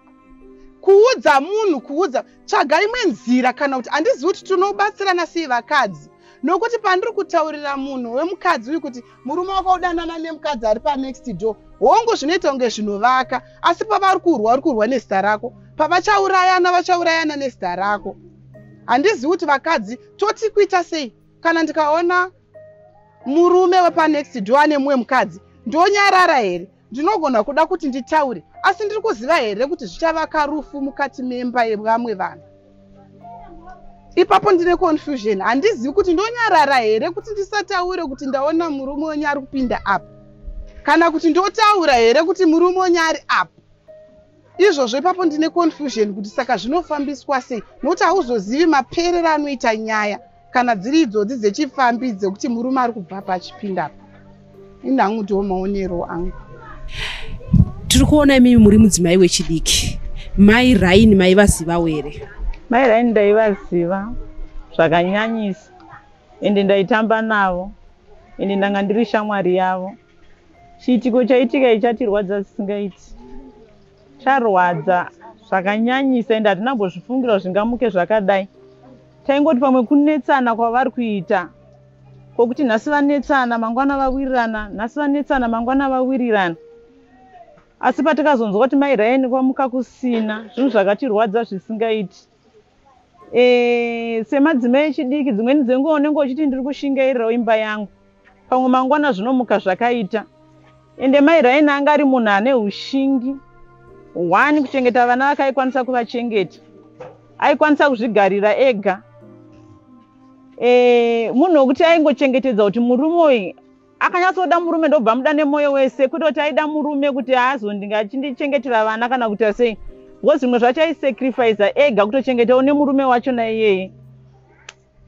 kuudza munhu kuudza tsvaga imwe nzira kana kuti handizivi kuti tinobatsirana sei vakadzi nokuti pandiri kutaurira munhu wemukadzi uyu kuti murume wako udanana nemukadzi ari panext door hongu zvinoita kunge zvinovaka asi pavari kurwa uri kurwa nezita rako pavachaurayana vachaurayana nezita rako handizivi kuti vakadzi toti kuita sei kana ndikaona murume wepanext door ane mumwe mukadzi ndonyarara here Ndinogona kuda kuti nditaure, asi ndiri kuziva here kuti zvichavaka rufu mukati memba yevamwe vanhu? Ipapo ndine confusion, handizivi kuti ndonyarara here kuti ndisataure kuti ndaona murume wenyu ari kupinda apa, kana kuti ndotaura here kuti murume wenyu ari apa. izvozvo ipapo ndine confusion kuti saka zvinofambiswa sei nokuti hauzozivi maperero anoita nyaya kana dziri idzodzi dzechifambi dzekuti murume ari kubva pachipinda pa ini hangu ndiwo maonero angu tiri kuona imimi muri mudzimai wechidiki mai raini maivazivawo here mai raini ndaivaziva zvakanyanyisa ende ndaitamba navo ende ndanga ndiri shamwari yavo Chiitiko chaitika ichi chatirwadza zvisingaiti. Charwadza zvakanyanyisa ende hatina kumbozvifungira kuti zvingamuke zvakadai. Taingoti pamwe kunetsana kwavari kuita kwokuti nhasi vanetsana mangwana vawirirana, nhasi vanetsana mangwana vawirirana. Asi patakazonzwa kuti mai Ryan kwamuka kusina, zvinhu zvakatirwadza zvisingaiti. Eh, semadzimai echidiki dzimweni dzenguva unenge uchiti ndiri kushingairirawo imba yangu pamwe mangwana zvinomuka zvakaita ende mai raini anga ari munhu ane ushingi one kuchengeta vana vake aikwanisa kuvachengeta aikwanisa kuzvigarira ega e, munhu wekuti aingochengetedza kuti murume uyu Akanyatsoda murume ndobva muda nemoyo wese kwete kuti aida murume kuti aazondinge achindichengetera vana kana kuita sei because zvimwe zvacho aisacrifice ega kutochengetawo nemurume wacho naiyeye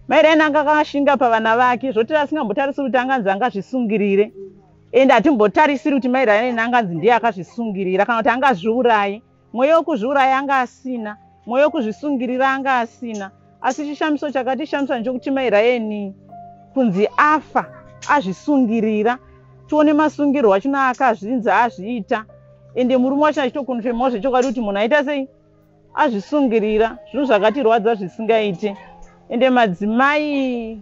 mai raini anga akashinga pavana vake zvoti asingambotarisiri kuti anganzi angazvisungirire ende hatimbotarisiri kuti mai raini anganzi ndiye akazvisungirira kana kuti angazviurayi mweya wokuzviuraya anga asina mweya wokuzvisungirira anga asina asi chishamiso chakatishamisa nchokuti mai rayeni kunzi afa azvisungirira tione masungirwo achino akazvinzi azviita ende murume wachina achitokonfemawo zvechokwadi kuti munhu aita sei azvisungirira zvinhu zvakatirwadza zvisingaite ende madzimai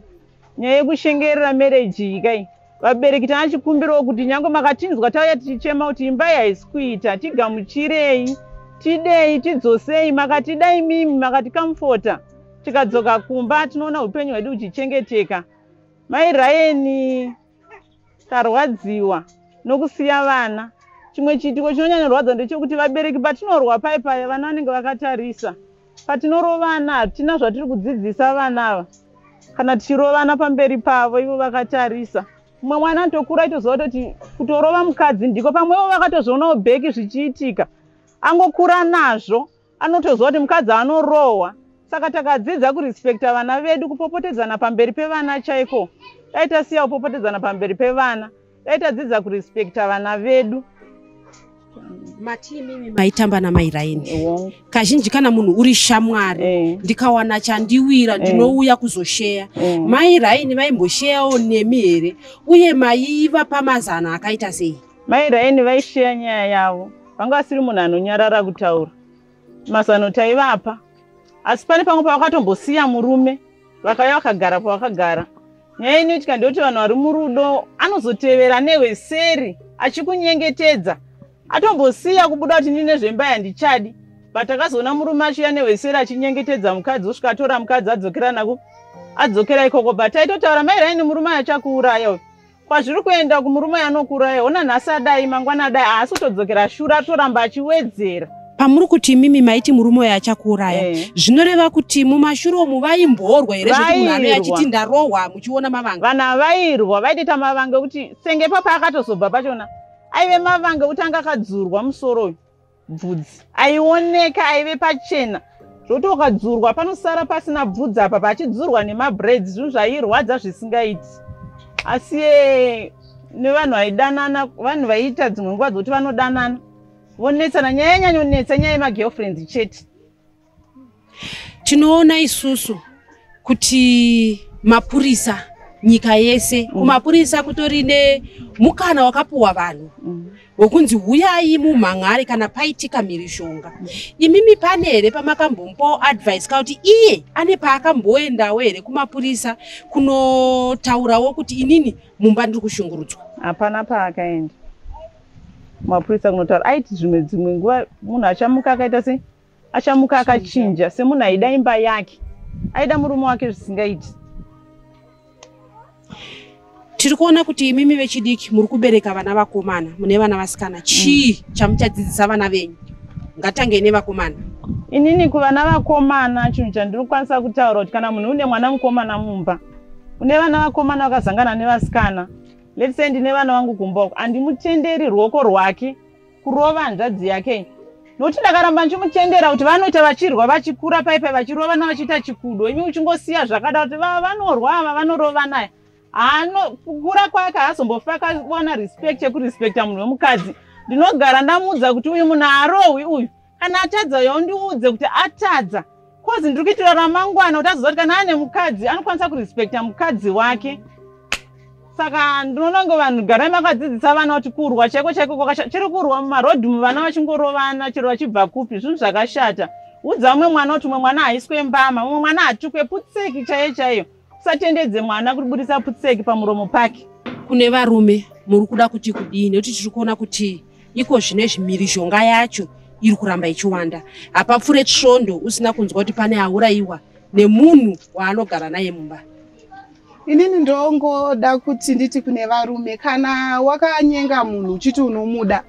nyaya yekushengerera marriage iyi kai vabereki tana chikumbirawo kuti nyange makatinzwa tauya tichichema kuti imba iyi haisi kuita tigamuchirei tidei tidzosei makatida imimi makatikamfota tikadzoka kumba tinoona upenyu hwedu huchichengeteka mai rayeni Tarwadziwa nokusiya vana. Chimwe chiitiko chinonyanyorwadza ndechekuti vabereki patinorwa paye paye vana vanenge vakatarisa. Patinorovana hatina zvatiri kudzidzisa vana ava kana tichirovana pamberi pavo ivo vakatarisa. Mumwe mwana anotokura aitoziva kuti kutorova mukadzi ndiko pamwevo vakatozvionawo bheki zvichiitika angokura nazvo Anotoziva kuti mukadzi anorohwa saka takadzidza kurespecta vana vedu kupopotedzana pamberi pevana chaiko dai tasiya kupopotedzana pamberi pevana dai tadzidza kurespecta vana vedu matiimimi maitamba namai raini yeah. kazhinji kana munhu uri shamwari yeah. ndikawana chandiwira eh. ndinouya yeah. kuzosheya yeah. Eh. mai raini vaimbosheyawo nemi here uye maiva pamazano akaita sei Mai Raini vaisheya nyaya yavo, vanga vasiri munhu anonyarara kutaura mazano taivapa, asi pane pamwe pavakatombosiya murume vakauya vakagara pavakagara. Nyaya inoitika ndeyoti vanhu vari murudo anozotevera newe seri achikunyengetedza atombosiya kubuda kuti ndine zvemba yandichadi but akazoona murume achiuya nehweseri achinyengetedza mukadzi osvika atora mukadzi adzokera nako adzokera ikoko but aitotaura mairaini murume ayo achakuuraya uyu kwazviri kuenda kumurume anokuuraya hona nhasi adai mangwana adai haasi kutodzokera shure atoramba achiwedzera pamuri kuti imimi maiti murume uyo achakuuraya eh. zvinoreva kuti mumashure omu vaimborwa here zvekuti munhu anoi achiti ndarohwa muchiona mavanga vanhu avairwa vaitoita mavanga ekuti senge papaakatozobva pachona aive mavanga ekuti anga akadzurwa musoro uyu bvudzi aioneka aive pachena zvoti ukadzurwa panosara pasina bvudzi apa pachidzurwa nemabraids zvinhu zvairwadza zvisingaiti asi eh, nevanhu vaidanana vanhu vaiita dzimwe nguva dzokuti vanodanana vonetsana nyaya yanyanyonetsa nyaya yemagirlfriend chete tinoona isusu kuti mapurisa nyika yese mm. kumapurisa kutori nemukana wakapuwa vanhu mm. wekunzi huyai mumhan'ari kana paitika mhirizhonga mm. imimi pane here pamakambombawo advice ka kuti iye ane paakamboendawo here kumapurisa kunotaurawo kuti inini mumba ndiri kushungurudzwa hapana paakaenda mapurisa kunotaura aiti zvimwe dzimwe nguva munhu achamuka akaita sei achamuka akachinja semunhu aida imba yake aida murume wake zvisingaiti tiri kuona kuti imimi vechidiki muri kubereka vana vakomana mune vana vasikana chii mm. chamuchadzidzisa vana venyu ngatangei nevakomana inini kuvana vakomana chinhu chandiri kukwanisa kutaura kuti kana munhu une mwana mukomana mumba une vana vakomana vakazangana nevasikana let's say ndine vana vangu kumba uko handimutenderi ruoko rwake kurova hanzvadzi yake nokuti ndakaramba ndichimutendera kuti vanoita vachirwa vachikura paipai vachirovana vachiita chikudo imi uchingosiya zvakada kuti vanorwa ava vanorova naye kukura kwake haazombofa akawana respect yekurespecta munhu wemukadzi ndinogara ndamuudza kuti uyu munhu haarohwi uyu kana atadza uyo undiudze kuti atadza kozi ndiri kuitira ramangwana kuti azoziva kuti kana ane mukadzi anokwanisa kurespecta mukadzi wake saka ndinoona ngo vanhu garai makadzidzisa vana kuti kurwa chaiko chaiko kwakashata chiri kurwa mumarodhi mu vana vachingorovana chero vachibva kupi zvinhu zvakashata udza umwe mwana kuti umwe mwana haiswe mbama umwe mwana hatukwe putseki chaiyo chaiyo usatendedze mwana kuri budisa putseki pamuromo pake kune varume muri kuda kuti kudii nekuti tiri kuona kuti iko zvine zvimirizhonga yacho iri kuramba ichiwanda hapapfure svondo usina kunzwa kuti pane aurayiwa nemunhu waanogara naye mumba inini ndongoda kuti nditi kune varume kana wakanyenga munhu uchiti unomuda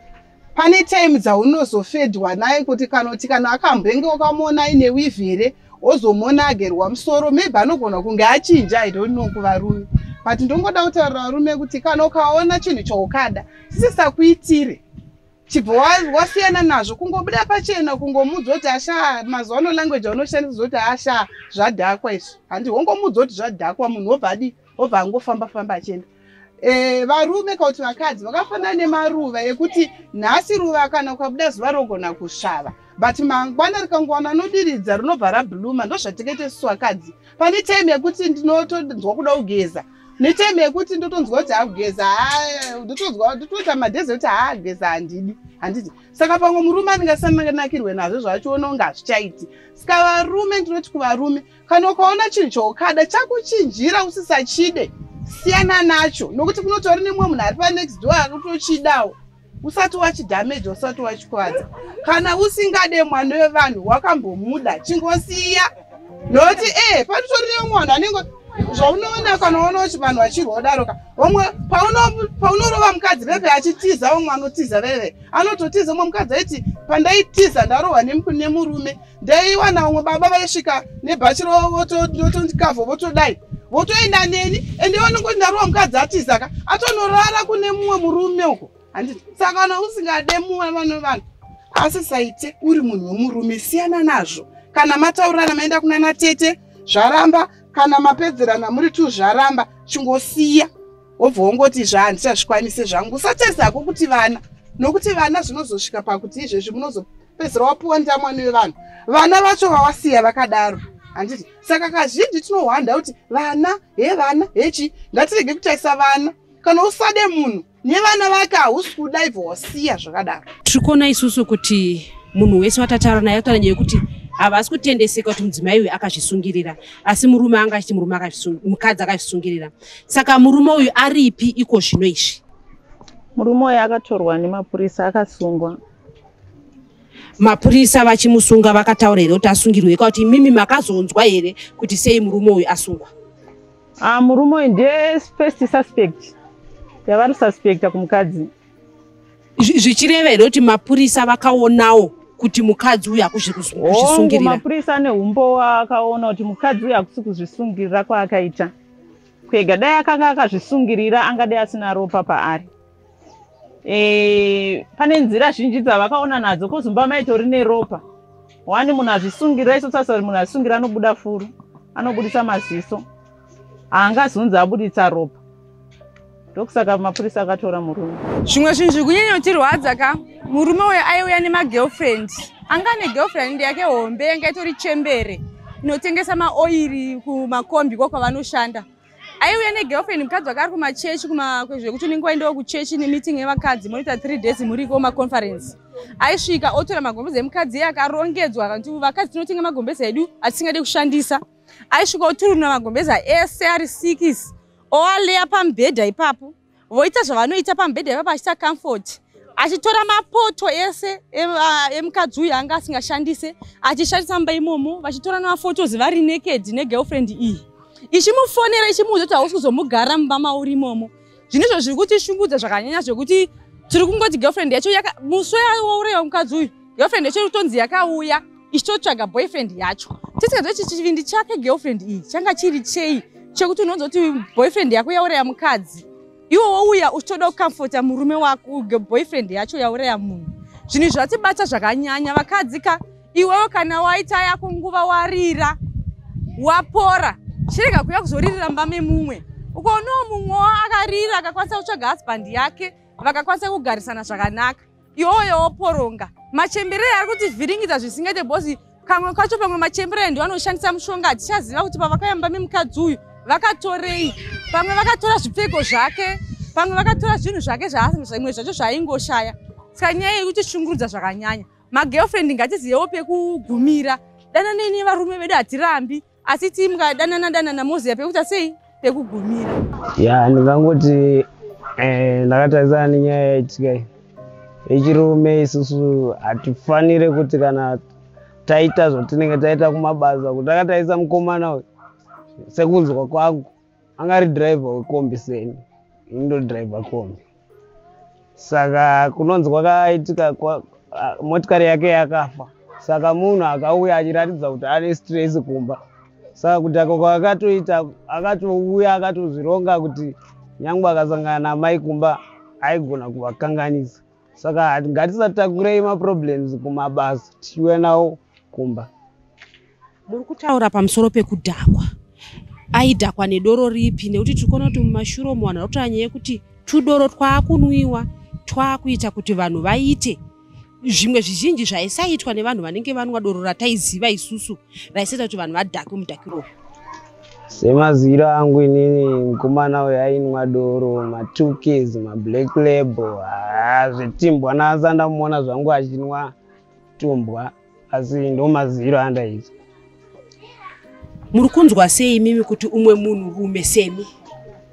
pane time dzaunozofedwa naye kuti kana kuti kana akambenge ukamuona aine wivi here wozomuona agerwa musoro maybe anogona kunge achinja i don't know kuvarume but ndongoda kutaurira varume kuti kana ukaona chinhu chaukada sisisakuitire chibva wasiyana nazvo kungobuda pachena kungomuudza kuti ashaa mazuva ano language aunoshandisa zoti ashaa zvadhakwa izvi handi wongomuudza kuti zvadhakwa munhu wobva adii obva angofamba famba achienda e, varume kauti vakadzi vakafanana nemaruva ekuti nhasi ruva kana ukabuda zuva rogona kusvava but mangwana rikangowana anodiridza rinobva rabhluma ndozvatekete susu vakadzi pane time yekuti ndinotonzwa kuda kugeza netime yekuti ndotonzwa kuti akugeza ndotonzwa ndotoita madhezi ekuti haageza handidi handiti saka pamwe murume andingasanakirwe nazvo zvachiona unga hazvichaiti saka varume ndinoti kuvarume kana ukaona chinhu chaukada chakuchinjira usisachide siyana nacho nokuti kunotori nemumwe munhu ari panext door akutochidawo usati wachidhameja usati wachikwadza kana usingade mwana wevanhu wakambomuda chingosiya nokuti e eh, panotori nemumwe vanhu anenge zvaunoona kana uona kuti vanhu vachirwa kudaroka vamwe paunorova mukadzi veve achitiza vamwe anotiza veve anototiza umwe mukadzi aiti pandaitiza ndarohwa nemurume ndaiwana umwe baba vaisvika nebhachi rotondikavha votodai votoenda neni ende vanongoti ndarowa mukadzi atizaka atonorara kune mumwe murume uko handiti saka kana usingade mumwe vano vanhu asi saite uri munhu wemurume siyana nazvo kana mataurirana maenda kunana tete zvaramba kana mapedzerana muri tu zvaramba chingosiya wobva wongoti zva handichazvikwanise zvangu usatarisa hako kuti vana nokuti vana zvinozosvika pakuti izvezvi munozo pedzera wapuwa ndamwani wevanhu vana vacho vawasiya vakadaro handiti saka kazhinji tinohwanda kuti vana he vana hechi ngatirege kutaisa vana kana usade munhu nevana vake hausi kuda ibva wasiya zvakadaro tiri kuona isusu kuti munhu wese watataura naye kutaura nyaya yekuti havasi kutendeseka kuti mudzimai uyu akazvisungirira asi murume anga achiti murume mukadzi akazvisungirira saka murume uyu aripi iko zvino izvi murume uyu akatorwa nemapurisa akasungwa mapurisa vachimusunga vakataura here kuti asungirwe ika kuti imimi makazonzwa here kuti sei murume uyu asungwa ah, murume uyu ndiye first suspect yavari suspecta kumukadzi zvichireva here kuti mapurisa vakaonawo kuti mukadzi uyu hakuzi kuzvisungirira mapurisa ane umbowa akaona kuti mukadzi uyu hakusi kuzvisungirira kwaakaita kwega dai akanga akazvisungirira angadai asina ropa paari e, pane nzira zhinji dzavakaona nadzo ko zumba maitori neropa wani munhu azvisungira iso sasa munhu azvisungira anobuda furu anobudisa maziso haangazunzi abuditsa ropa ndokusaka mapurisa akatora murume zvimwe zvinhu zviri kunyanya kutirwadza ka murume uyo aiuya nemagirlfriend anga ane girlfriend yake hombe yanga itori chembere inotengesa maoiri kumakombi ko kwavanoshanda aiuya negirlfriend mukadzi wake ari kumachechi kumakwezve kuti unenge waendawo kuchechi nemeeting yevakadzi monoita three days muriko maconference aisvika otora magombezi emukadzi iye akarongedzwa akanti vakadzi tinotenga magombezi edu atisingade kushandisa aisvika oturunura magombeza ese ari sikisi oaleya pamubhedha ipapo voita zvavanoita pamubhedha ipapa achiita comfort achitora mapoto ese emukadzi uyu anga asingashandise achishandisa mumba imomo vachitora nemafotos vari naked negirlfriend iyi ichimufonera ichimuudza kuti hausi kuzomugara mumba mauri imomo zvine izvo zviri kutishungudza zvakanyanya zvekuti tiri kungoti girlfriend yacho musi wauraiwa mukadzi uyu girlfriend yacho iri kutonzi yakauya ichitotsvaga boyfriend yacho tisingazive kuti chivindi chake girlfriend iyi changa chiri chei chekuti unonzwa kuti boyfriend yako yauraya mukadzi iwo wouya uchitoda kukamfota murume wako boyfriend yacho yauraya munhu zvinhu zvatibata zvakanyanya vakadzi ka iwewo kana waita yako nguva warira wapora chirega kuya kuzoririra mba memumwe ukoonawo mumwewo akarira akakwanisa kutsvaga husband yake vakakwanisa kugarisana zvakanaka iyoyo woporonga machembere ari kuti vhiringidza zvisingaite bhozi kamwe kacho pamwe machembere ndiwo anoshandisa mushonga hatichaziva kuti pavakayamba memukadzi uyu vakatorei pamwe vakatora zvipfeko zvake pamwe vakatora zvinhu zvake zvaimwe zvacho zvaaingoshaya saka nyaya yekuti shungurudza zvakanyanya magirlfriend ngatizivewo pekugumira dananei nevarume vedu hatirambi asi tii mukadanana danana moziva pekuita sei pekugumira ya ndingangoti eh, ndakatarisana nenyaya yaitika iyi yechirume isusu hatifanire kuti kana taita zvatinenge taita kumabasa kuti akatarisa mukomana uyu sekunzwa kwangu anga ari driver wekombi seni ini ndodriver kombi saka kunonzi kwakaitika motikari yake yakafa saka munhu akauya achiratidza kuti ane stress kumba saka kuti ako kwakatoita akatouya akatozvironga kuti nyangwe akasangana namai kumba aigona kuvakanganisa saka ngatisatakurei maproblems kumabasa tichiuya nawo kumba muri kutaura pamusoro pekudhakwa aidhakwa nedoro ripi nekuti tiri kuona kuti mumashuro mu vanhu varikutaa nyaya yekuti tudoro twaakunwiwa twaakuita kuti vanhu vaite zvimwe zvizhinji zvaisaitwa nevanhu vanenge vanwa doro rataiziva isusu raisaita kuti vanhu vadhakwe mudhakiro uyu semaziviro angu inini mukomana uyo ainwa doro matukis mablack label haa zvetimbwa nasa ndamuona zvangu achinwa tumbwa asi ndo maziviro andaita muri kunzwa sei imimi kuti umwe munhu rume semi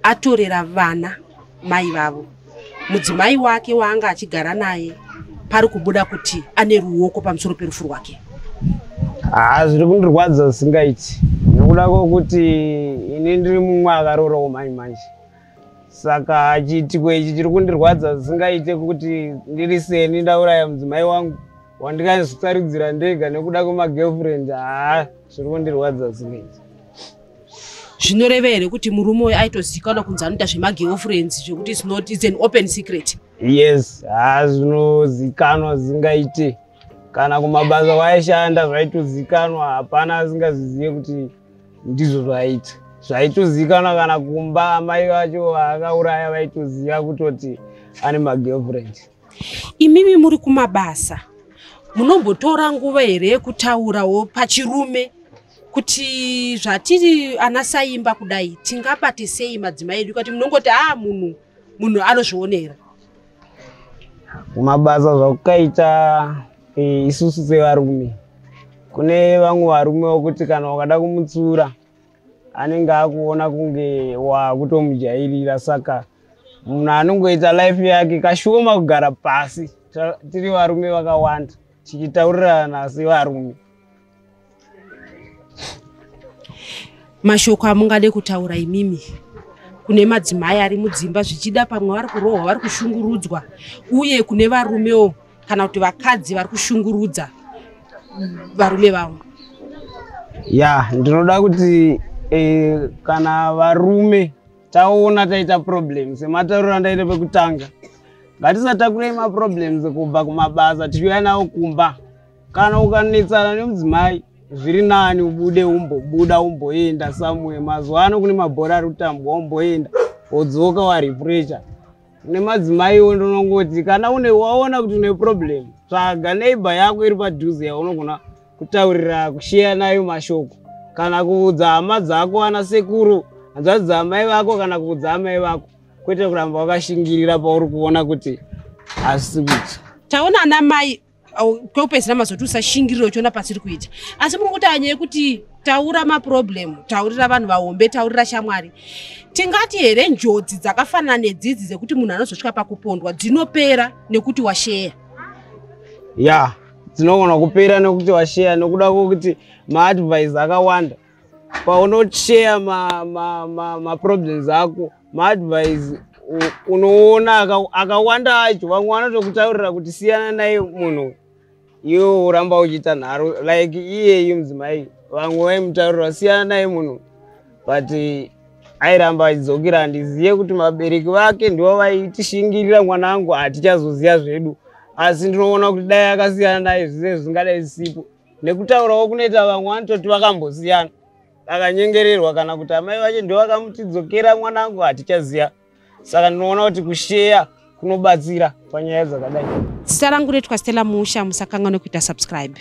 atorera vana mai vavo mudzimai wake waanga achigara naye pari kubuda kuti ane ruoko pamusoro perufu rwake haa zviri kundirwadza zvisingaiti nokuda kwokuti ini ndiri mumwe akarorawo mai manje saka chiitiko ichi chiri kundirwadza zvisingaite kuti ndiri seni ndauraya mudzimai wangu wandikazvitsaridzira ndega nekuda kwemagirlfriend haa zviri kundirwadza zvisingaiti zvinoreva here kuti murume uyo aitozikanwa kunzi anoita zvemagirlfriends zvekuti its not its an open secret yes haa zvinozikanwa zingaite kana kumabasa waishanda zvaitozikanwa hapana asingazvizive kuti ndizvo zvaiita zvaitozikanwa kana kumba amai vacho vaakauraya vaitoziva kutoti ane magirlfriend imimi muri kumabasa munombotora nguva here yekutaurawo pachirume kuti zvatiri ana saimba kudai tingabate sei madzimai edu kati munongoti aa ah, munhu munhu anozvionera mabasa zvakukaita e, isusu sevarume kune vamwe varume vokuti kana ukada kumutsura anenge akuona kunge wakutomujairira saka munhu anongoita life yake kashoma kugara pasi tiri varume vakawanda tichitaurirana sevarume mashoko amungade kutaura imimi kune madzimai ari mudzimba zvichida pamwe vari kurohwa vari kushungurudzwa uye kune varumewo kana kuti vakadzi vari kushungurudza varume vavo ya ndinoda kuti e, kana varume taona taita problem sematauriro andaita pekutanga ngatisatakurei maproblems kubva kumabasa tichiuya nawo kumba kana ukanetsana nemudzimai zviri nani ubude umbobuda umboenda somewhere mazuva ano kune mabhora ari kutambwa umboenda wodzoka warefresha kune madzimaiwo ndinongoti kana une waona kuti une problem tsvaga neighbor yako iri padhuze yaunogona kutaurira kusheya nayo mashoko kana kuudza hama dzako ana sekuru hanzvadzi dzamai vako kana kuudza amai vako kwete kuramba wakashingirira pauri kuona kuti asi kuti taona ana mai kwekupedzisira mazoti usashingirira uchiona pasiri kuita asi muri kuti anyaya yekuti taura maproblem taurira vanhu vahombe taurira shamwari tingati here njodzi dzakafanana nedzidzi dzekuti munhu anozosvika pakupondwa dzinopera nekuti washeya ya dzinogona kupera nekuti washeya nekuda kwekuti maadvise akawanda paunocheya maproblems ma, ma, ma ako maadvise unoona akawanda acho vamwe vanotokutaurira kuti siyana naye munhu iwe uramba uchiita nharo like iyeyu mudzimai vamwe vaimutaurira siyana naye munhu but airamba achidzokera handizive kuti mabereki vake ndivo vaitishingirira mwana wangu hatichazoziva zvedu asi ndinoona kuti dai akasiyana naye zvize zvingadai zisipo nekutaurawo kunoita vamwe vanototi vakambosiyana akanyengererwa kana kuti amai vacho ndovakamuchidzokera mwanangu hatichaziva saka ndinoona kuti kusheya kunobatsira panyaya dzakadai zita rangu rinoitwa stella musha musakanga nekuita subscribe